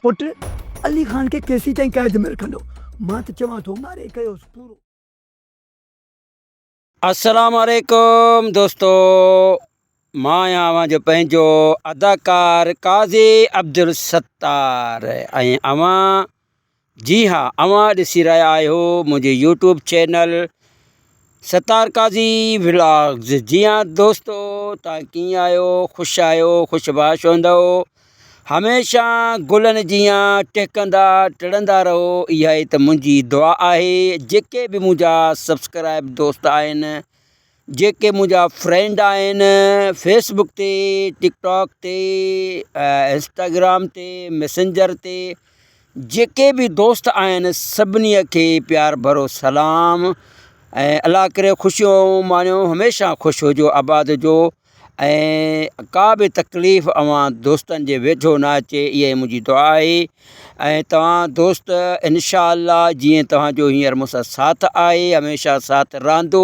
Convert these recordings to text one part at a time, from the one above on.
پٽ علي خان کي ڪيسين تائين قيد ۾ رکندو مان ته چوان ٿو ماري ڪيوس پورو. السلام عليڪم دوستو مان آهيان اوهان جو پنهنجو اداڪار قاضي عبدالستار ۽ اوهان جي ها اوهان ڏسي رهيا آهيو منهنجي YouTube channel Sattar Qazi vlogs جي ها دوستو تان ڪيئن آهيو خوش آهيو خوش باش هوندو هميشه گلن جي ها ٽهڪندا ٽڙندا رهو اها ئي ته منهنجي دعا آهي جيڪي به منهنجا سبسڪرائب دوست آهن جيڪي منهنجا فرينڊ آهن فيس بڪ تي ٽڪ ٽاڪ تي انسٽاگرام تي ميسنجر تي جيڪي به دوست آهن سڀني کي پيار ڀرو سلام ۽ الله ڪري خوشيون ماڻيو هميشه خوش هجو آباد هجو ۽ ڪا به تڪليف اوهان دوستن جي ويجهو نه اچي اها ئي منهنجي دعا آهي ۽ توهان دوست انشاء الله جيئن توهان جو هينئر مون سان ساٿ آهي هميشه ساٿ رهندو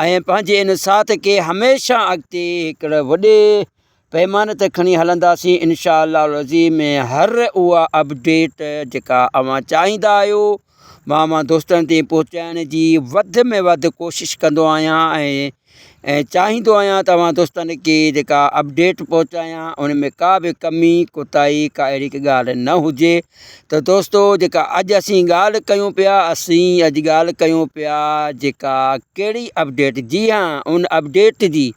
۽ پنهنجي ان ساٿ کي هميشه اڳتي هڪڙي وڏي پيماني تي کڻي هلنداسين انشاء الله العظيم ۾ هر اها اپڊيٽ جيڪا اوهان چاهيندا آهيو مان اوهان دوستن تائين پهچائڻ جي وڌ ۾ وڌ ڪوشش ڪندو آهيان ۽ ۽ چاهيندو آهيان ته اوهان دوستن کي جيڪا اپڊيٽ پهچايان ان ۾ ڪا به ڪمي ڪوتاهي ڪا اهڙي ڪا ڳالهه نه هجي ته دوستو جيڪا اڄ اسين ڳالهه ڪيون پيا اسين اڄ ڳالهه ڪيون پيا جيڪا ڪهڙي اپڊيٽ جي هان ان اپڊيٽ جي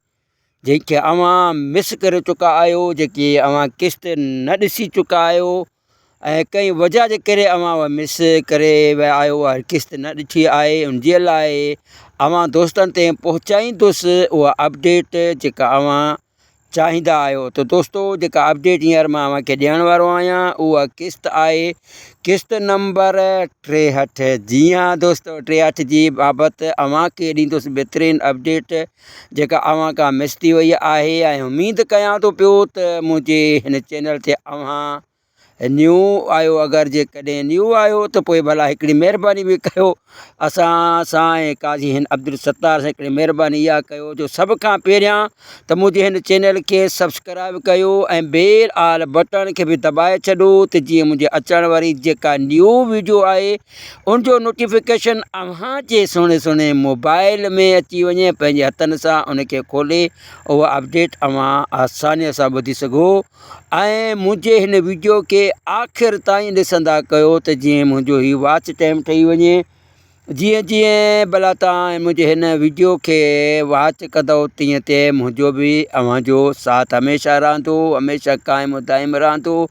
جنهن کي اوهان مس ڪري چڪا آهيو جيڪي اوهان قسط نه ڏسي چڪا آهيو ۽ ڪنهن وجهه جي ڪري اوهان اهي مس ڪري ويا آهيو اهي قسط نه ڏٺي آهي ان جي لاء اوهان دوستن تي پهچائيندس اها اپڊيٽ جيڪا اوهان چاهيندا آهيو ته دوستو جيڪا اپڊيٽ هينئر مان اوهان کي ڏيڻ وارو آهيان اها قسط آهي قسط نمبر ٽيهٺ جي هاں دوستو ٽيهٺ جي بابت اوهان کي ڏيندس بهترين اپڊيٽ جيڪا اوهان کان مس ٿي وئي آهي ۽ اميد ڪيان ٿو پيو ته منهنجي هن چينل تي اوهان نيو آهيو اگر جيڪڏهن نيو آهيو ته پوء ڀلا هڪڙي مهرباني به ڪيو اسان سان ۽ قاضي هن عبدالستار سان هڪڙي مهرباني اها ڪيو جو سڀ کان پهريان ته منهنجي هن چينل کي سبسڪرائب ڪيو ۽ بيل آل بٽڻ کي به دٻائي ڇڏو ته جيئن منهنجي اچڻ واري جيڪا نيو ويڊيو آهي ان جو نوٽيفڪيشن اوهان جي سهڻي سهڻي موبائل ۾ اچي وڃي پنهنجي هٿن سان ان کي کولي اها اپڊيٽ اوهان آساني سان ٻڌي سگهو ۽ منهنجي هن ويڊيو کي آخر تائين ڏسندا ڪيو ته جيئن منهنجو هي واچ ٽائم ٺهي وڃي جيئن جيئن بلا تائين منهنجي هن ويڊيو کي واچ ڪندو تيئن تيئن منهنجو به اوهان جو ساٿ هميشه رهندو هميشه قائم دائم رهندو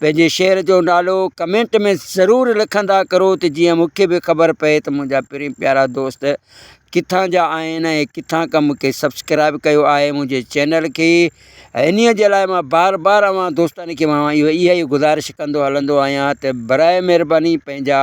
پنهنجي شهر جو نالو ڪمينٽ ۾ ضرور لکندا ڪرو ته جيئن مون کي به خبر پئي ته منهنجا پرين پيارا دوست ڪٿان جا آهن ۽ ڪٿان کان مون کي سبسڪرائب ڪيو آهي منهنجي چينل کي انهي جي لاء مان بار بار اوهان دوستن کي مان اهي اهي گذارش ڪندو هلندو آهيان ته برائي مهرباني پنهنجا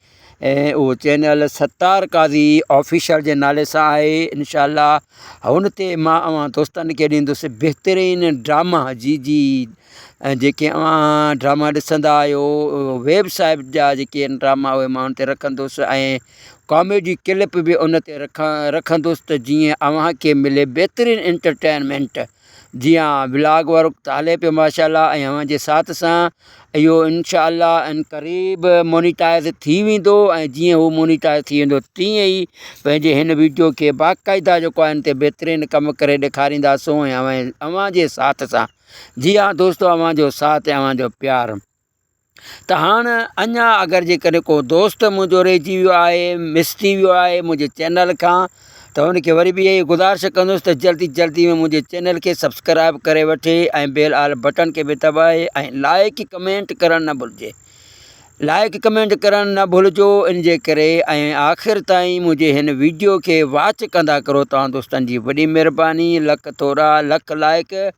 ۽ اهو چينل ستار قاضي آفيشل جي نالي سان آهي انشاء الله هن تي مان اوهان دوستن کي ڏيندس بهترين ڊراما جي جي ۽ جيڪي اوهان ڊراما ڏسندا آهيو ويب صاحب جا جيڪي آهن ڊراما اهي مان ان تي رکندس ۽ ڪاميڊي ڪلپ به ان تي رکان رکندس ته جيئن اوهان کي ملي بهترين انٽرٽينمينٽ جي ها بلاگ ورڪ ته هلي پيو ماشاء الله ۽ اوهان جي ساٿ سان اهو انشاء الله ان قريب مونيٽائز ٿي ويندو ۽ جيئن هو مونيٽائز ٿي ويندو تيئن ئي پنهنجي هن ويڊيو کي باقاعده جيڪو آهن تي بهترين ڪم ڪري ڏيکارينداسون ۽ اوهان جي ساٿ سان جي ها دوستو اوهان جو ساٿ ۽ اوهان جو پيار ته هاڻ اڃا اگر جيڪڏهن ڪو دوست منهنجو رهجي ويو آهي مس ٿي ويو آهي منهنجي چينل کان ته هن کي وري به اها ئي گذارش ڪندس ته جلدي جلدي ۾ منهنجي چينل کي سبسڪرائب ڪري وٺي ۽ بيل آل بٽڻ کي به دٻائي ۽ لائڪ ڪمينٽ ڪرڻ نه ڀلجي لائڪ ڪمينٽ ڪرڻ نه ڀلجو ان جي ڪري ۽ آخر تائين منهنجي هن ويڊيو کي واچ ڪندا ڪرو توهان دوستن جي وڏي مهرباني لک ٿورا لک لائڪ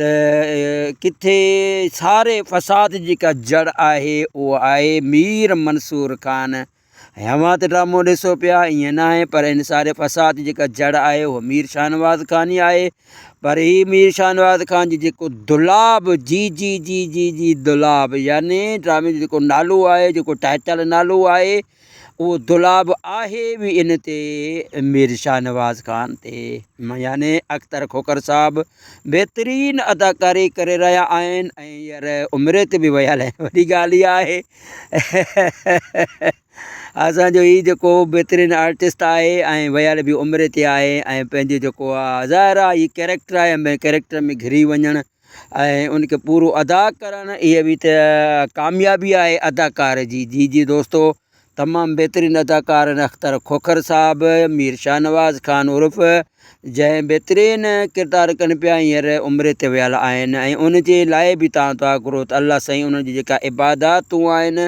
ته ڪٿي ساري فساد جي جيڪا جڙ آهي اهو آهي مير منصور خان اوهان ته ڊرامو ڏسو پيا ائين نه آهي پر ان ساري فساد جي جيڪا جڙ آهي اهو مير شاهنواز خان ئي آهي پر هي مير شاهنواز خان جي جيڪو دلاب جي جي جي جي جي دلاب يعني ڊرامي جو جيڪو نالو آهي جيڪو ٽائيٽل نالو آهي اهو دولاب آهي به ان تي مير شاهنواز خان تي يعني اختر کوکر صاحب بهترين اداڪاري ڪري رهيا آهن ۽ هينئر عمري تي به ويا لهي وڏي ڳالهه هي آهي اسان جو هي جيڪو بهترين آرٽسٽ آهي ۽ ويل به عمري تي آهي ۽ پنهنجي جيڪو آهي ظاهر آهي هي ڪيريڪٽر آهي ۾ ڪيريڪٽر ۾ گهري وڃڻ ۽ ان کي پورو ادا ڪرڻ اهي به ته ڪاميابي آهي اداڪار جي جي جي دوستو تمام بهترين اداڪار آهن اختر کوکر صاحب مير شاهنواز خان عرف جنهن بهترين ڪردار ڪن پيا هينئر عمري تي ويل آهن ۽ ان جي لاء به تان دعا گهرو ته الله سائين انهن جي جيڪا عباداتون آهن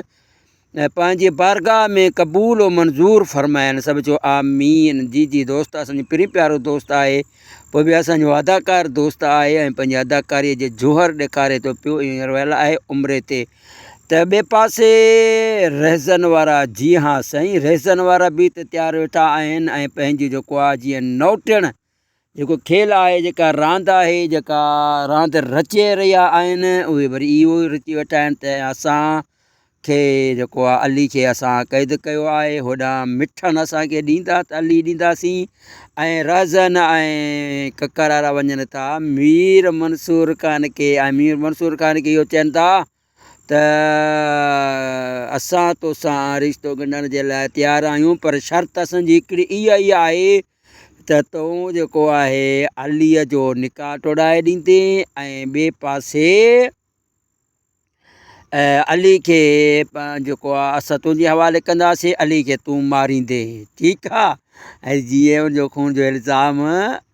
۽ پنهنجي بارگاهه ۾ قبول و منظور فرمائين سڀ چئو آمين جي جي دوست اسانجو پرين پيارو دوست آهي پوء به اسانجو اداڪار دوست آهي ۽ پنهنجي اداڪاري جي جوهر ڏيکاري ٿو پيو هينئر ويل آهي عمري تي ته ٻي پاسي رهزن وارا جي ها سائين رهزن وارا به ته تيار ويٺا آهن ۽ پنهنجو جيڪو آهي جيئن نوٽيڻ جيڪو کيل آهي، جيڪا راند آهي، جيڪا راند رچي رهيا آهن، اهي وري اهو رچي ويٺا آهن ته اسان کي جيڪو آهي علي کي اسان قيد ڪيو آهي، هوڏانهن مٺن اسان کي ڏيندا ته علي ڏينداسين ۽ رهزن ۽ ڪڪر وارا وڃن ٿا مير منصور خان کي ۽ مير منصور خان کي اهو چين ٿا ته اسان توسان رشتو ڳنڍڻ جي لاء تيار آهيون پر شرط اسان جي هڪڙي اها ئي آهي ته تون جيڪو آهي عليء جو نڪاح ٽوڙائي ڏيندين ۽ ٻئي پاسي علي کي جيڪو آهي اسان تنهنجي حوالي ڪنداسين علي کي تون ماريندين ٺيڪ آهي ۽ جيئن ان جو خون جو الزام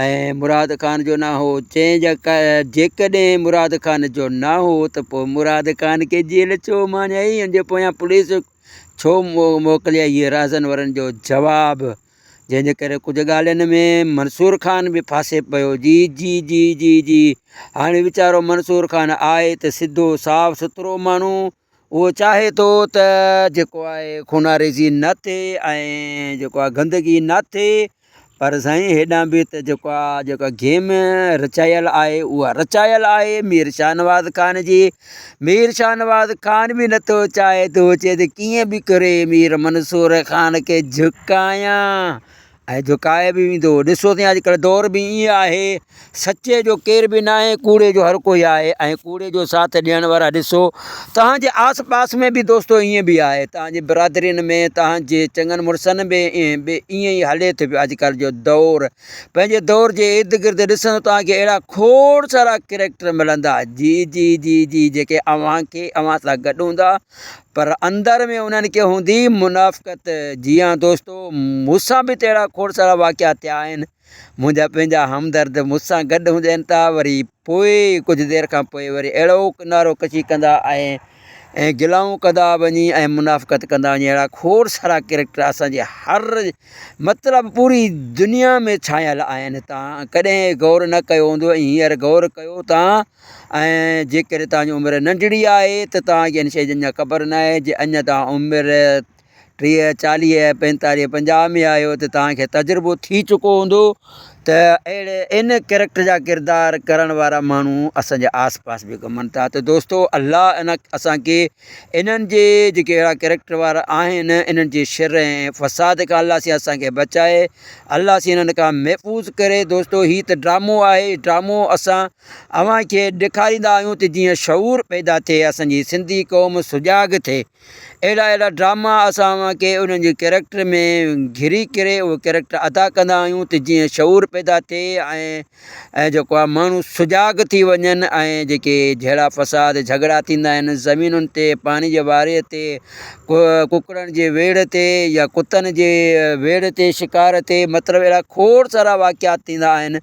۽ مراد خان جو نه هو. چيائين جيڪڏهن مراد خان جو نه هو ته پوء مراد خان کي جيل ڇو ماڻيائين؟ ان جي پويان پوليس ڇو موڪليائين؟ اهي رازن ورن جو جواب، جنهن جي ڪري ڪجهه ڳالهين ۾ منصور خان به ڦاسي پيو. جي جي جي جي جي هاڻي ويچارو منصور خان آهي ته سڌو صاف سٿرو ماڻهو. اهو چاهي ٿو ته جيڪو آهي خوناريزي نه ٿئي ۽ جيڪو آهي گندگي نه ٿئي پر سائين هيڏانهن به ته جيڪو آهي جيڪا گيم رچايل آهي اها رچايل آهي مير شاهنواز خان جي مير شاهنواز خان به نٿو چاهي ٿو چي ته ڪيئن به ڪري مير منصور خان کي جهڪايان ۽ جهڪائي به ويندو. ڏسو ته اڄڪلهه دور به ائين آهي، سچي جو ڪير به ناهي، ڪوڙي جو هر ڪوئي آهي ۽ ڪوڙي جو ساٿ ڏيڻ وارا ڏسو توهان جي آس پاس ۾ به دوستو ائين به آهي، توهان جي برادرين ۾ توهان جي چڱن مڙسن ۾ به ائين ئي هلي ٿو پيو اڄڪلهه جو دور. پنهنجي دور جي ارد گرد ڏسندو توهان کي اهڙا کوڙ سارا ڪريڪٽر ملندا جي جي جي جي جيڪي اوهان کي اوهان سان گڏ هوندا پر اندر ۾ انهن کي هوندي منافقت. جي ها دوستو، مون سان به ته اهڙا کوڙ سارا واقعا ٿيا آهن. منهنجا پنهنجا همدرد مون سان گڏ هوندي آهن ته وري پوء ڪجهه دير کان پوء وري اهڙوڪ نعرو ڪشي ڪندا ۽ ۽ گلائون ڪندا وڃي ۽ منافقت ڪندا وڃي. اهڙا کوڙ سارا ڪريڪٽر اسان جي هر مطلب پوري دنيا ۾ ڇانيل آهن. تان ڪڏهن غور نه ڪيو هوندو ۽ هينئر غور ڪيو تان ۽ جيڪڏهن توهان جي عمر ننڍڙي آهي ته توهان کي ان شيء جي اڃا خبر ناهي جي اڃا توهان عمر ٽيهه چاليهه پنجتاليهه پنجاهه ۾ آهيو ته توهان کي تجربو ٿي چڪو هوندو ته اهڙي ان ڪريڪٽر جا ڪردار ڪرڻ وارا ماڻهو اسان جي آس پاس به گهمن ٿا ته دوستو الله ان اسان کي انهن جي جيڪي اهڙا ڪريڪٽر وارا آهن انهن جي شر ۽ فساد کان الله سين اسان کي بچائي الله سين انهن کان محفوظ ڪري دوستو هي ته ڊرامو آهي ڊرامو اسان اوهان کي ڏيکاريندا آهيون ته جيئن شعور پيدا ٿئي اسان جي سنڌي قوم سجاڳ ٿئي اهڙا اهڙا ڊراما اسان اوهان کي انهن جي ڪيريڪٽر ۾ گهري ڪري اهو ڪيريڪٽر ادا ڪندا آهيون ته جيئن شعور پيدا ٿئي ۽ جيڪو آهي ماڻهو سجاڳ ٿي وڃن ۽ جيڪي جهيڙا فساد جهڳڙا ٿيندا آهن زمينن تي پاڻي جي واري تي ڪڪڙن جي ويڙهه تي يا ڪتن جي ويڙهه تي شڪار تي مطلب اهڙا کوڙ سارا واقعات ٿيندا آهن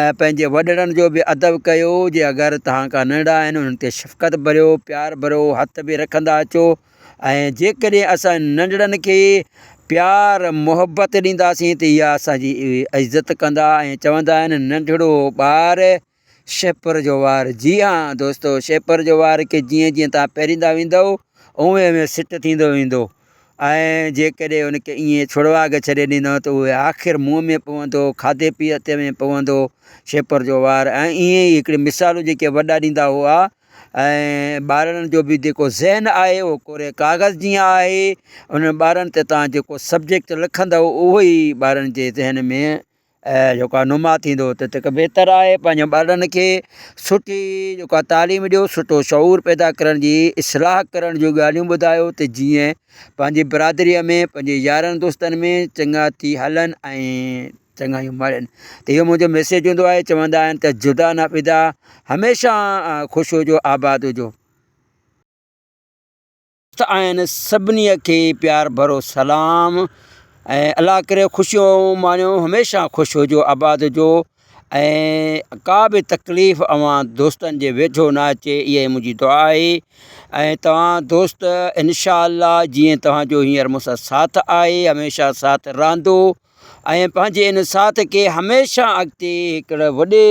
۽ پنهنجي وڏڙن جو به ادب ڪيو، جي اگر توهان کان ننڍا آهن انهن تي شفقت ڀريو، پيار ڀرو هٿ به رکندا اچو ۽ جيڪڏهن اسان ننڍڙن کي پيار محبت ڏينداسين ته اها اسان جي عزت ڪندا ۽ چوندا آهن ننڍڙو ٻار شهپر جو وار جي ها دوستو شهپر جو وار کي جيئن جيئن توهان پيريندا ويندؤ اوهين اوهين سٽ ٿيندو ويندو. ۽ جيڪڏهن ان کي ائين ڇڙواڳ ڇڏي ڏيندو ته اهو آخر منهن ۾ پوندو، کاڌي پيتي ۾ پوندو، شيپر جو وار ۽ ائين ئي هڪڙي مثالون جيڪي وڏا ڏيندا هئا ۽ ٻارڙن جو به جيڪو ذهن آهي اهو ڪوري ڪاغذ جيان آهي، انهن ٻارڙن تي توهان جيڪو سبجيڪٽ لکندؤ اهو ئي ٻارڙن جي ذهن ۾ ۽ جيڪا نما ٿيندو ته تک بهتر آهي پنهنجن ٻارڙن کي سٺي جيڪا تعليم ڏيو سٺو شعور پيدا ڪرڻ جي اصلاح ڪرڻ جون ڳالهيون ٻڌايو ته جيئن پنهنجي برادريء ۾ پنهنجي يارن دوستن ۾ چڱا ٿي هلن ۽ چڱايون ماڻين ته اهو منهنجو ميسيج هوندو آهي چوندا آهن ته جدا نه فدا هميشه خوش هجو آباد هجو. دوست آهن سڀني کي پيار ڀرو سلام ۽ الله ڪري خوشيون ماڻيو هميشه خوش هجو آباد هجو ۽ ڪا به تڪليف اوهان دوستن جي ويجهو نه اچي اها ئي منهنجي دعا آهي ۽ توهان دوست انشاء الله جيئن توهان جو هينئر مون سان ساٿ آهي هميشه ساٿ رهندو ۽ پنهنجي ان ساٿ کي هميشه اڳتي هڪڙي وڏي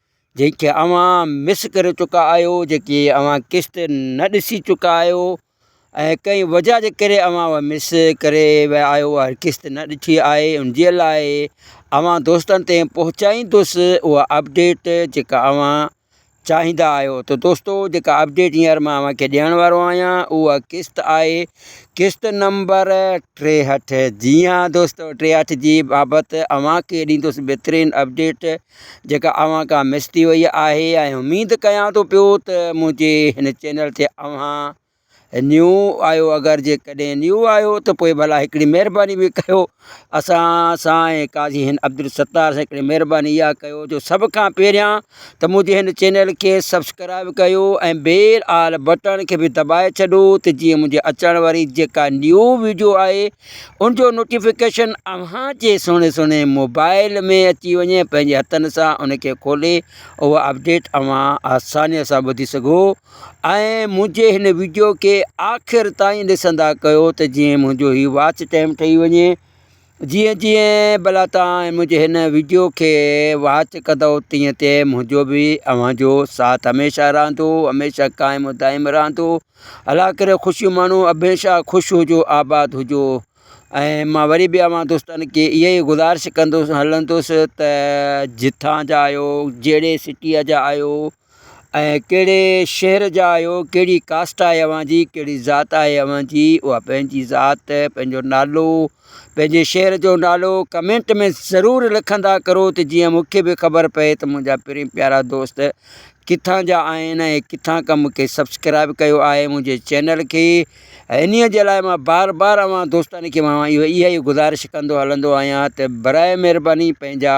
جنهن کي اوهان مس ڪري چڪا آهيو جيڪي اوهان قسط نه ڏسي چڪا آهيو ۽ ڪنهن وجهه جي ڪري اوهان اهو مس ڪري ويا آهيو اهڙي قسط نه ڏٺي آهي ان جي لاء اوهان دوستن تي پهچائيندس اها اپڊيٽ جيڪا اوهان چاهيندا آهيو ته دوستو جيڪا اپڊيٽ هينئر مان اوهان کي ڏيڻ وارو آهيان اها قسط آهي قسط نمبر ٽيهٺ جي هاں دوستو ٽيهٺ جي بابت اوهان کي ڏيندس بهترين اپڊيٽ جيڪا اوهان کان مس ٿي وئي آهي ۽ اميد ڪيان ٿو پيو ته منهنجي هن چينل تي اوهان نيو آهيو اگر جيڪڏهن نيو آهيو ته پوء ڀلا هڪڙي مهرباني به ڪيو اسان سان ۽ قاضي هند عبدالستار سان هڪڙي مهرباني اها ڪيو جو سڀ کان پهريان ته منهنجي هن چينل کي سبسڪرائيب ڪيو ۽ بيل آل بٽڻ کي به دٻائي ڇڏو ته جيئن منهنجي اچڻ واري جيڪا نيو ويڊيو آهي ان جو نوٽيفڪيشن اوهان جي سهڻي سهڻي موبائل ۾ اچي وڃي پنهنجي هٿن سان ان کي کولي اهو اپڊيٽ اوهان آساني سان ٻڌي سگهو ۽ منهنجي هن ويڊيو کي آخر تائين ڏسندا ڪيو ته جيئن منهنجو هي واچ ٽائم ٺهي وڃي جيئن جيئن بلا تائين منهنجي هن ويڊيو کي واچ ڪندو تيئن تيئن منهنجو به اوهان جو ساٿ هميشه رهندو هميشه قائم دائم رهندو الا ڪري خوشيون ماڻو ابهيشا خوش هجو آباد هجو ۽ مان وري به اوهان دوستن کي اها ئي گذارش ڪندوس هلندوس ته جتان جا آهيو جهڙي سٽيء جا آهيو ۽ ڪهڙي شهر جا آهيو ڪهڙي ڪاسٽ آهي اوهان جي ڪهڙي ذات آهي اوهان جي اها پنهنجي ذات پنهنجو نالو پنهنجي شهر جو نالو ڪمينٽ ۾ ضرور لکندا ڪرو ته جيئن مون کي به خبر پئي ته منهنجا پرين پيارا دوست ڪٿان جا آهن ۽ ڪٿان کان مون کي سبسڪرائب ڪيو آهي منهنجي چينل کي انهي جي لاء مان بار بار اوهان دوستن کي مان اهي اهي گذارش ڪندو هلندو آهيان ته برائي مهرباني پنهنجا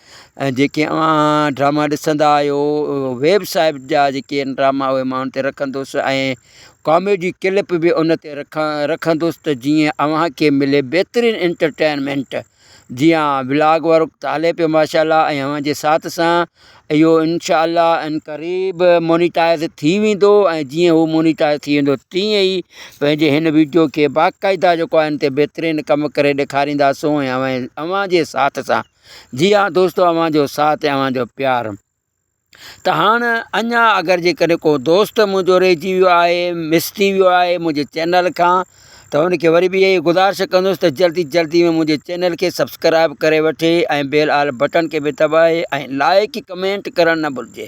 ۽ جيڪي اوهان ڊراما ڏسندا آهيو ويب صاحب جا جيڪي آهن ڊراما اهي ماڻهن تي رکندوس ۽ ڪاميڊي ڪلپ به ان تي رکا رکندوس ته جيئن اوهان کي ملي بهترين انٽرٽينمينٽ جي ها بلاگ وارو ته هلي پيو ماشاءالله ۽ اوهان جي ساٿ سان اهو انشاءالله ان قريب مونيٽائز ٿي ويندو ۽ جيئن هو مونيٽائز ٿي ويندو تيئن ئي پنهنجي هن ويڊيو کي باقاعده جيڪو آهن تي بهترين ڪم ڪري ڏيکارينداسون ۽ اوهان جي ساٿ سان جي ها دوستو اوهان جو ساٿ ۽ اوهان جو پيار ته هاڻ اڃا اگر جيڪڏهن ڪو دوست منهنجو رهجي ويو آهي مس ٿي ويو آهي منهنجي چينل کان ته هن کي وري به اهي گذارش ڪندس ته جلدي جلدي ۾ منهنجي چينل کي سبسڪرائب ڪري وٺي ۽ بيل آل بٽن کي به دٻائي ۽ لائڪ ڪمينٽ ڪرڻ نه ڀلجي.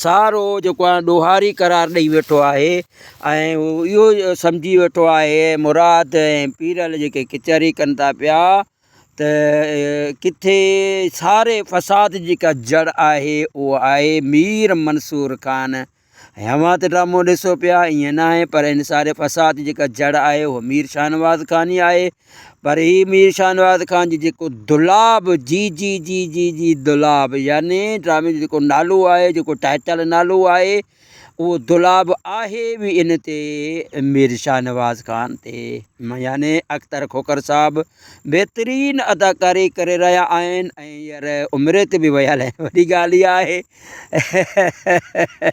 سارو جيڪو آهي ڏوهاري قرار ڏئي ويٺو آهي ۽ هو اهو سمجهي ويٺو آهي مراد ۽ پيرل جيڪي ڪچهري ڪن ٿا پيا ته ڪٿي ساري فساد جي جيڪا جڙ آهي اهو آهي مير منصور خان ۽ اوهان ته ڊرامو ڏسو پيا ائين ناهي پر ان ساري فساد جي جيڪا جڙ آهي اهو مير شاهنواز خان ئي آهي پر هي مير شاهنواز خان جي جيڪو دولاب جي جي جي جي جي دولاب يعني ڊرامي جو جيڪو نالو آهي جيڪو ٽائيٽل نالو آهي اهو دولاب آهي به ان تي مير شاهنواز خان تي يعني اختر کوکر صاحب بهترين اداڪاري ڪري رهيا آهن ۽ هينئر عمري تي به ويل آهن وڏي ڳالهه اها آهي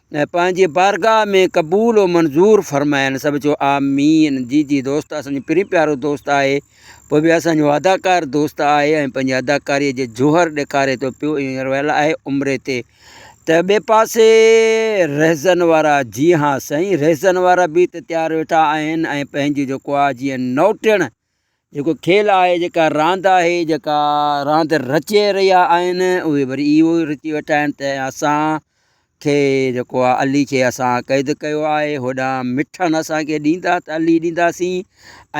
۽ پنهنجي بارگاهه ۾ قبول و منظور فرمائين سڀ چئو آمين جي جي دوست اسان جو پرين پيارو دوست آهي پوء به اسان جو اداڪار دوست آهي ۽ پنهنجي اداڪاري جو جوهر ڏيکاري ٿو پيو اهو هينئر ويل آهي عمري تي ته ٻئي پاسي رهزن وارا جي ها سائين رهزن وارا به ته تيار ويٺا آهن ۽ پنهنجو جيڪو آهي جيئن نوٽيڻ جيڪو کيل آهي، جيڪا راند آهي، جيڪا راند رچي رهيا آهن، اهي وري اهو رچي ويٺا آهن ته اسان کي جيڪو آهي علي کي اسان قيد ڪيو آهي، هوڏانهن مٺن اسان کي ڏيندا ته علي ڏينداسين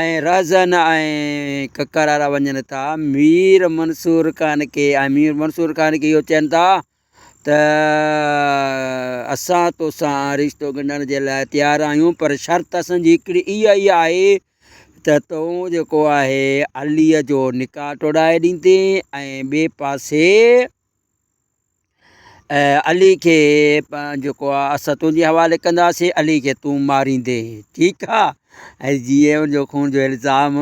۽ رهزن ۽ ڪڪر وارا وڃن ٿا مير منصور خان کي ۽ مير منصور خان کي اهو چين ٿا ته اسان توسان رشتو ڳنڍڻ جي لاء تيار آهيون پر شرط اسان جي هڪڙي اها ئي آهي ته تون جيڪو آهي عليء جو نڪاح ٽوڙائي ڏيندين ۽ ٻئي پاسي علي کي جيڪو آهي اسان تنهنجي حوالي ڪنداسين علي کي تون ماريندين ٺيڪ آهي ۽ جيئن ان جو خون جو الزام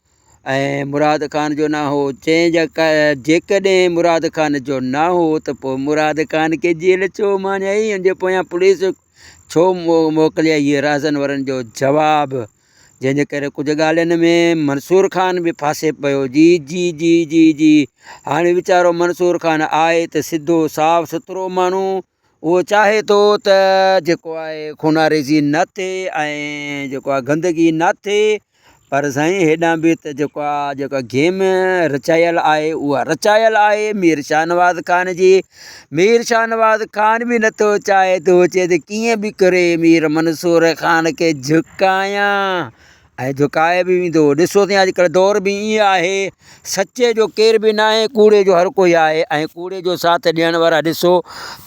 ۽ مراد خان جو نه هو. چيائين جيڪڏهن مراد خان جو نه هو ته پوء مراد خان کي جيل ڇو ماڻيائين؟ ان جي پويان پوليس ڇو موڪليائين؟ اهي رازن ورن جو جواب، جنهن جي ڪري ڪجهه ڳالهين ۾ منصور خان به ڦاسي پيو. جي جي جي جي جي هاڻي ويچارو منصور خان آهي ته سڌو صاف سٿرو ماڻهو. اهو چاهي ٿو ته جيڪو آهي خوناريزي نه ٿئي ۽ جيڪو آهي گندگي نه ٿئي پر سائين هيڏانهن به ته جيڪو آهي جيڪا گيم رچايل آهي اها رچايل آهي مير شاهنواز خان جي مير شاهنواز خان به نٿو چاهي ٿو چي ته ڪيئن به ڪري مير منصور خان کي جهڪايان ۽ جهڪائي به ويندو. ڏسو ته اڄڪلهه دور به ائين آهي، سچي جو ڪير به ناهي، ڪوڙي جو هر ڪوئي آهي ۽ ڪوڙي جو ساٿ ڏيڻ وارا ڏسو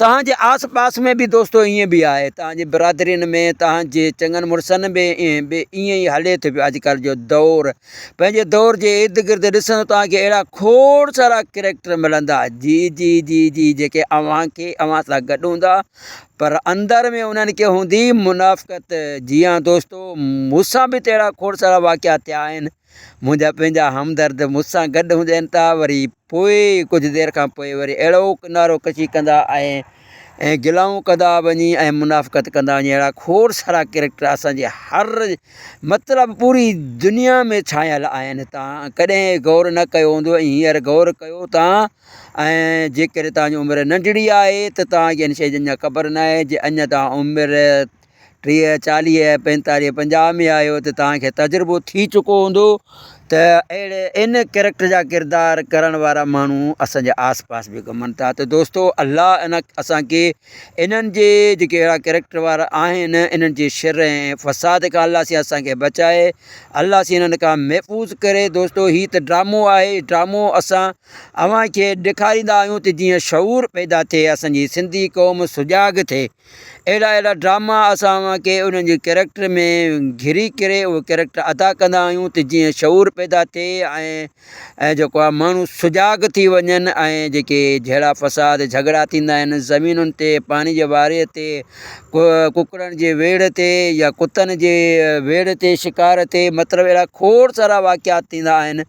توهان جي آس پاس ۾ به دوستو ائين به آهي، توهان جي برادرين ۾ توهان جي چڱن مڙسن ۾ به ائين ئي هلي ٿو پيو اڄڪلهه جو دور. پنهنجي دور جي ارد گرد ڏسندو توهان کي اهڙا کوڙ سارا ڪريڪٽر ملندا جي جي جي جي جيڪي اوهان کي اوهان سان گڏ هوندا پر اندر ۾ انهن کي هوندي منافقت. جي ها دوستو، مون سان به ته اهڙا کوڙ سارا واقعا ٿيا آهن. منهنجا پنهنجا همدرد مون سان گڏ هوندي آهن ته وري پوء ڪجهه دير کان پوء وري اهڙوڪ نعرو ڪشي ڪندا ۽ ۽ گلائون ڪندا وڃي ۽ منافقت ڪندا وڃي. اهڙا کوڙ سارا ڪريڪٽر اسان جي هر مطلب پوري دنيا ۾ ڇانيل آهن. تان ڪڏهن غور نه ڪيو هوندو ۽ هينئر غور ڪيو تان ۽ جيڪڏهن توهان جي عمر ننڍڙي آهي ته توهان کي انهن شهيدن جا خبر ناهي جي اڃا توهان عمر ٽيهه چاليهه پنجتاليهه پنجاهه ۾ آهيو ته توهان کي تجربو ٿي چڪو هوندو ته اهڙي ان ڪريڪٽر جا ڪردار ڪرڻ وارا ماڻهو اسان جي آس پاس به گهمن ٿا ته دوستو الله ان اسان کي انهن جي جيڪي اهڙا ڪريڪٽر وارا آهن انهن جي شر ۽ فساد کان الله سين اسان کي بچائي الله سين انهن کان محفوظ ڪري دوستو هي ته ڊرامو آهي ڊرامو اسان اوهان کي ڏيکاريندا آهيون ته جيئن شعور پيدا ٿئي اسان جي سنڌي قوم سجاڳ ٿئي اهڙا اهڙا ڊراما اسان اوهان کي انهن جي ڪيريڪٽر ۾ گهري ڪري اهو ڪيريڪٽر ادا ڪندا آهيون ته جيئن شعور پيدا ٿئي ۽ جيڪو آهي ماڻهو سجاڳ ٿي وڃن ۽ جيڪي جهيڙا فساد جهڳڙا ٿيندا آهن زمينن تي پاڻي جي واري تي ڪڪڙن جي ويڙهه تي يا ڪتن جي ويڙهه تي شڪار تي مطلب اهڙا کوڙ سارا واقعات ٿيندا آهن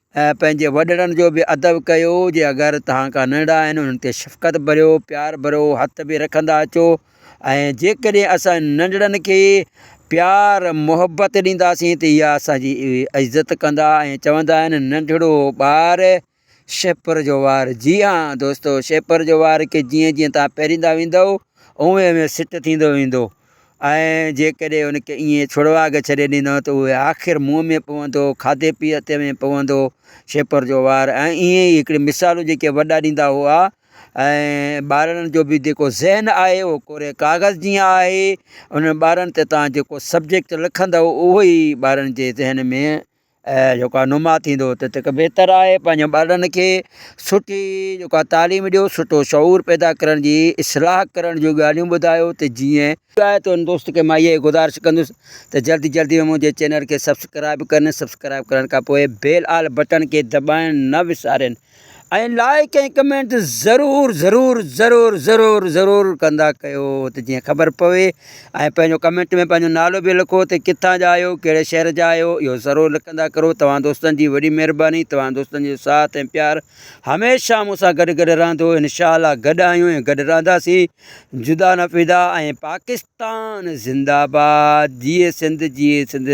۽ پنهنجي وڏڙن جو به ادب ڪيو، جي اگر توهان کان ننڍا آهن انهن تي شفقت ڀريو، پيار ڀرو هٿ به رکندا اچو ۽ جيڪڏهن اسان ننڍڙن کي پيار محبت ڏينداسين ته اها اسان جي عزت ڪندا ۽ چوندا آهن ننڍڙو ٻار شهپر جو وار جي ها دوستو شهپر جو وار کي جيئن جيئن توهان پيريندا ويندؤ اوهين اوهين سٽ ٿيندو ويندو. ۽ جيڪڏهن ان کي ائين ڇڙواڳ ڇڏي ڏنو ته اهو آخر منهن ۾ پوندو، کاڌي پيتي ۾ پوندو، شيپر جو وار ۽ ائين ئي هڪڙيون مثالون جيڪي وڏا ڏيندا هئا ۽ ٻارڙن جو به جيڪو ذهن آهي اهو ڪوري ڪاغذ جيان آهي، انهن ٻارڙن تي توهان جيڪو سبجيڪٽ لکندؤ اهو ئي ٻارڙن جي ذهن ۾ جيڪا نما ٿيندو ته تک بهتر آهي پنهنجن ٻارڙن کي سٺي جيڪا تعليم ڏيو سٺو شعور پيدا ڪرڻ جي اصلاح ڪرڻ جون ڳالهيون ٻڌايو ته جيئن آهي ته ان دوست کي مان اهي گذارش ڪندس ته جلدي جلدي ۾ منهنجي چينل کي سبسڪرائب ڪن سبسڪرائب ڪرڻ کان پوء بيل آل بٽڻ کي دٻائڻ نه وسارين ۽ لائيڪ ۽ ڪمينٽ ته ضرور ضرور ضرور ضرور ضرور ڪندا ڪيو ته جيئن خبر پوي ۽ پنهنجو ڪمينٽ ۾ پنهنجو نالو به لکو ته ڪٿان جا آهيو ڪهڙي شهر جا آهيو اهو ضرور لکندا ڪرو توهان دوستن جي وڏي مهرباني توهان دوستن جو ساٿ ۽ پيار هميشه مون سان گڏ گڏ رهندو انشاء الله گڏ آهيون ۽ گڏ رهنداسين جدا نه فدا ۽ پاڪستان زنده آباد جيئي سنڌ جيئي سنڌ